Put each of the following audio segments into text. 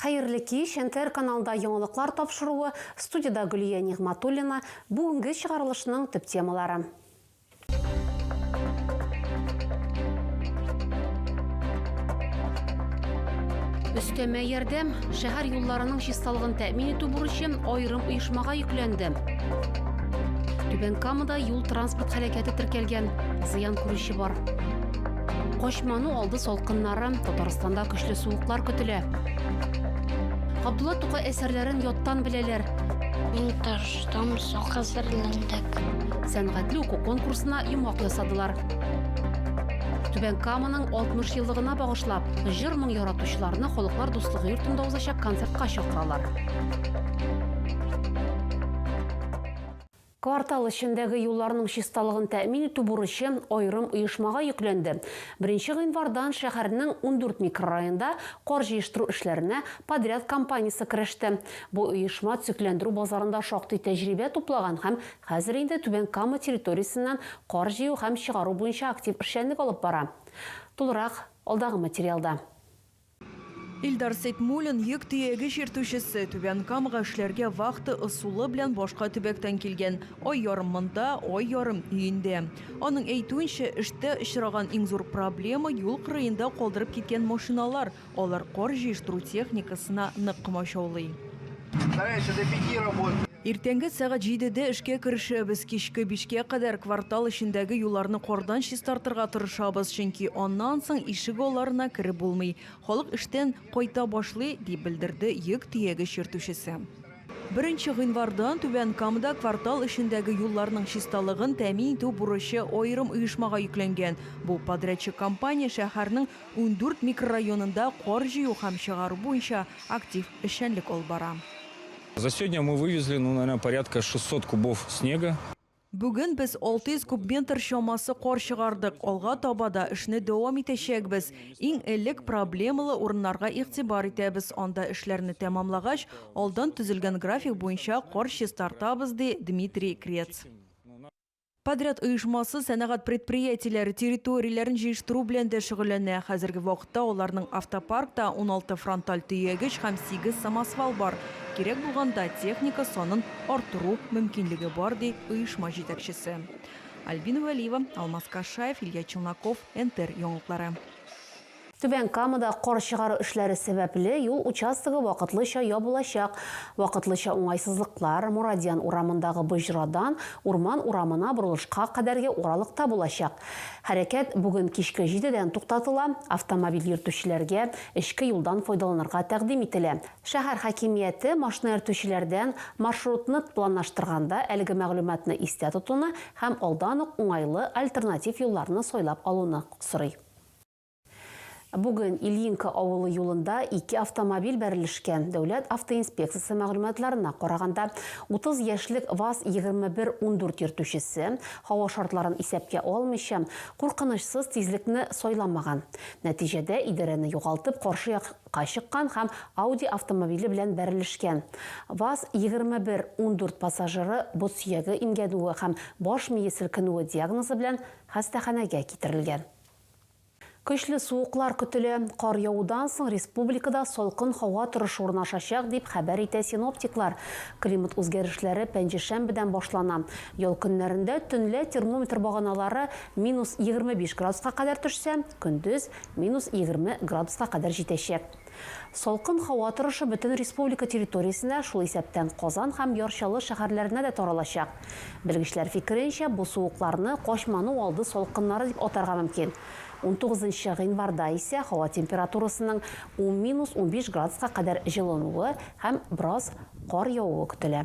Хәерле кич, НТР каналында яңалыклар тапшыруы, студиядә Гөлия Нигъматуллина, бүгенге чыгарылышның төп темалары. Өстәмә ярдәм шәһәр юлларының чисталыгын тәэмин итү бурычы аерым оешмага йөкләнде. Түбән Камада юл-транспорт һәлакәте теркәлгән, зыян күрүче бар. Кошману алды салкыннары, Татарстанда көчле суыклар көтелә. Габдулла Тукай әсәрләрен яттан беләләр. Мин таштан сак әзерләндек. Сәнгатьле уку конкурсына йомгак ясадылар. Түбән Каманың 60 еллыгына багышлап, җыр моң яратучыларны халыклар дуслыгы йортында узачак концертка чакыралар. Квартал эчендәге юлларның чисталыгын тәэмин итү бурычы аерым оешмага йөкләнде. Беренче гыйнвардан шәһәрнең ундүрт микрорайонда кар җыештыру эшләренә подряд компаниясе кереште. Бу оешма төзекләндерү базарында шактый тәҗрибә туплаган һәм хәзер инде Түбән Кама территориясеннән кар җыю һәм чыгару буенча актив эшчәнлек алып бара. Тулырак, алдагы материалда. Илдар Сәйтмуллин, йөк төяге чиртүчесе, Түбән Камага эшләргә вахта ысулы белән башка төбәктән килгән. Ай ярым монда, ай ярым өендә. Аның әйтүенчә, эштә очраган иң зур проблема, юл кырыенда калдырып киткән машиналар, алар кар җыештыру техникасына нык комачаулый. Иртәнге сәгать җидедә эшкә керешәбез, кичке бишкә кадәр квартал эчендәге юлларны кардан чистартырга тырышабыз, чөнки аннан соң ишегалларына кереп булмый, халык эштән кайта башлый, дип белдерде йөк төягеч йөртүчесе. Беренче гыйнвардан Түбән Камада квартал эчендәге юлларның чисталыгын тәэмин итү бурычы аерым оешмага йөкләнгән. Бу подрядчы компания шәһәрнең Ундүрт микрорайонында кар җыю һәм чыгару буенча актив эшчәнлек алып бара. За сегодня мы вывезли, ну, наверное, порядка 600 кубов снега. Бүген без 600 кубметр чамасы кар чыгардык, алга таба да эшне дәвам итәчәкбез. Иң элек проблемалы урыннарга игътибар итәбез, анда эшләрне тәмамлагач, алдан төзелгән график буенча кар чистартабыз, ди Дмитрий Крец. Подряд оешмасы сәнәгать предприятиеләре территорияләрен җыештыру белән дә шөгыльләнә. Хәзерге вакытта аларның автопаркта уналты фронталь төягеч һәм сигез самосвал бар. Кирәк булганда техника санын арттыру мөмкинлеге бар, ди оешма җитәкчесе. Альбина Вәлиева, Алмаз Кашаев, Илья Челноков, НТР яңалыклары. Түбән Камада кар чыгару эшләре сәбәпле юл участогы вакытлыча ябылачак. Вакытлыча уңайсызлыклар Морадиан урамындагы боҗрадан Урман урамына борылышка кадәрге аралыкта булачак. Хәрәкәт бүген кичке җидедән туктатыла, автомобиль йөртүчеләргә эчке юлдан файдаланырга тәкъдим ителә. Шәһәр хакимияте машина йөртүчеләрдән маршрутны планлаштырганда әлеге мәгълүматны истә тотуны һәм алдан ук уңайлы альтернатив юлларны сайлап алуны сорый. Бүген Ильинка авылы юлында ике автомобиль бәрелешкән. Дәүләт автоинспекциясе мәгълүматларына караганда, 30 яшьлек ВАЗ-2114 йөртүчесе, һава шартларын исәпкә алмыйча, куркынычсыз тизлекне сайламаган. Нәтиҗәдә, идарәне югалтып, каршы якка чыккан һәм Audi автомобиле белән бәрелешкән. ВАЗ-2114 пассажиры бот сөяге имгәнүе һәм баш мие селкенүе диагнозы белән хастаханәгә китерелгән. Көчле суыклар көтелә. Кар явудан соң республикада салкын һава торышы урнашачак, дип хәбәр итә синоптиклар. Климат үзгәрешләре пәнҗешәмбедән башлана. Ял көннәрендә төнлә термометр баганалары минус егерме биш градуска кадәр төшсә, көндез, минус егерме градуска кадәр җитәчәк. Салкын һава торышы бөтен республика территориясенә, шул исәптән Казан һәм Яр Чаллы шәһәрләренә дә таралачак. Белгечләр фикеренчә, бу суыкларны качману алды салкыннары дип атарга мөмкин. Унтугызынчы гыйнварда исә һава температурасының ун-унбиш градуска кадәр җылынуы һәм бераз кар явуы көтелә.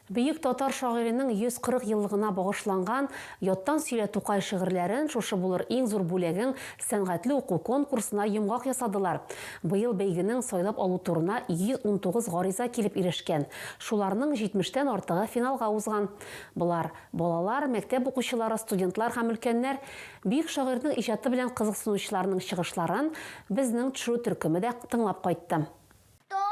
Бөек татар шагыйренең 140 еллыгына багышланган Яттан сөйлә Тукай шигырьләрен шушы булыр иң зур бүләгең сәнгатьле уку конкурсына йомгак ясадылар. Быел бәйгенең сайлап алу турына 119 гариза килеп ирешкән, шуларның 70 тән артыгы финалга узган. Болар, балалар, мәктәп укучылары, студентлар һәм өлкәннәр. Бөек шагыйрьнең иҗаты белән кызыксынучыларның чыгышларын безнең төшерү төркеме дә тыңлап кайтты. Что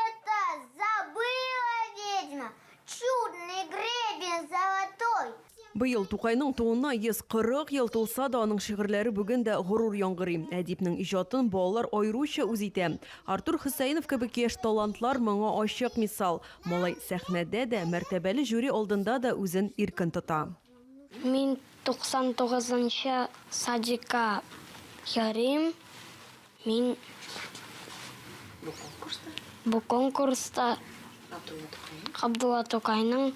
это забыла ведьма? Чудный гребень золотой. Быел Тукайның тууына 140 ел тулса да, аның шигырьләре бүген дә горур яңгырый. Әдипнең иҗатын балалар аеруча үз итә. Артур Хөсәенов кебек яшь талантлар моңа ачык мисал. Малай сәхнәдә дә, мәртәбәле жюри алдында да үзен иркен тота. Мин 99 нчы садикка ярыйм. Мин бу конкурста Габдулла Тукайның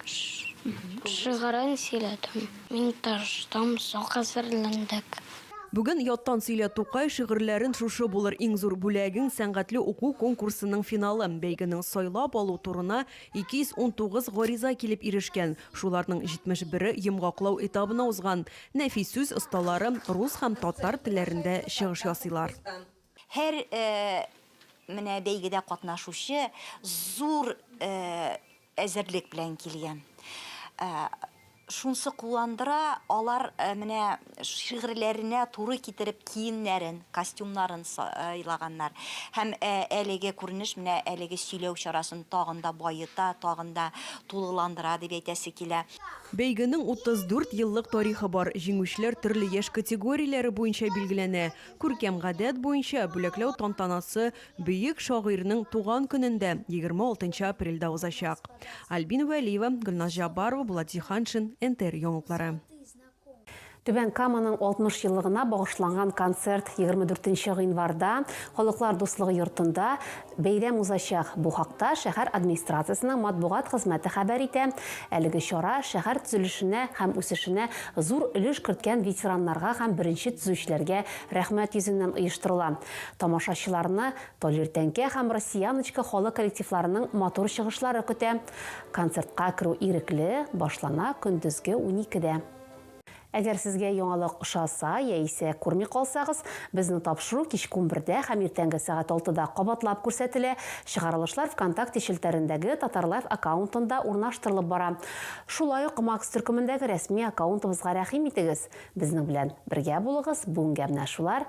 шигырен сөйләдем. Мин тырыштым, сак әзерләндек. Бүген яттан сөйлә Тукай шигырьләрен шушы булыр иң зур бүләгең сәнгатьле уку конкурсының финалы. Бәйгенең сайлап алу турына 219 гариза килеп ирешкән, шуларның 71-е йомгаклау этабына узган. Нәфис сүз осталары рус һәм татар телләрендә чыгыш ясыйлар. Һәр менә бәйгедә катнашучы зур әзерлек белән килгән. Шунсы куандыра, алар менә шигырьләренә туры китереп киемнәрен, костюмнарын сайлаганнар. Һәм әлеге күренеш менә әлеге сөйләү чарасын тагын да баета, тагын да тулыландыра дип әйтәсе килә. Бәйгенең 34 еллык тарихы бар, җиңүчеләр төрле яшь категорияләре буенча билгеләнә. Күркәм гадәт буенча, бүләкләү тантанасы Бөек шагыйрьнең туган көнен дә, 26 нчы апрельдә узачак. Альбина Вәлиева, Гөлназ Җаббарова, Булат Җиһаншин, НТР яңалыклары. Түбән Каманың 60 еллыгына багышланган концерт 24 нче гыйнварда Халыклар дуслыгы йортында бәйрәм узачак. Бу хакта шәһәр администрациясенең матбугат хезмәте хәбәр итә. Әлеге чара шәһәр төзелешенә һәм үсешенә зур өлеш керткән ветераннарга һәм беренче төзүчеләргә рәхмәт йөзеннән оештырыла. Тамашачыларны Полиртәңкә һәм Россияночка халык коллективларының матур чыгышлары көтә. Концертка керү ирекле, башлана көндезге уникедә. Әгәр сезгә яңалык ошаса яисә күрми калсагыз, безнең тапшыру кичке унбердә һәм иртәнге сәгать алтыда кабатлап күрсәтелә, чыгарылышлар Вконтакте челтәрендәге Татарлайф аккаунтында урнаштырылып бара. Шулай ук Макс төркемендәге рәсми аккаунтыбызга рәхим итегез! Безнең белән бергә булыгыз, бүгенгә менә шулар,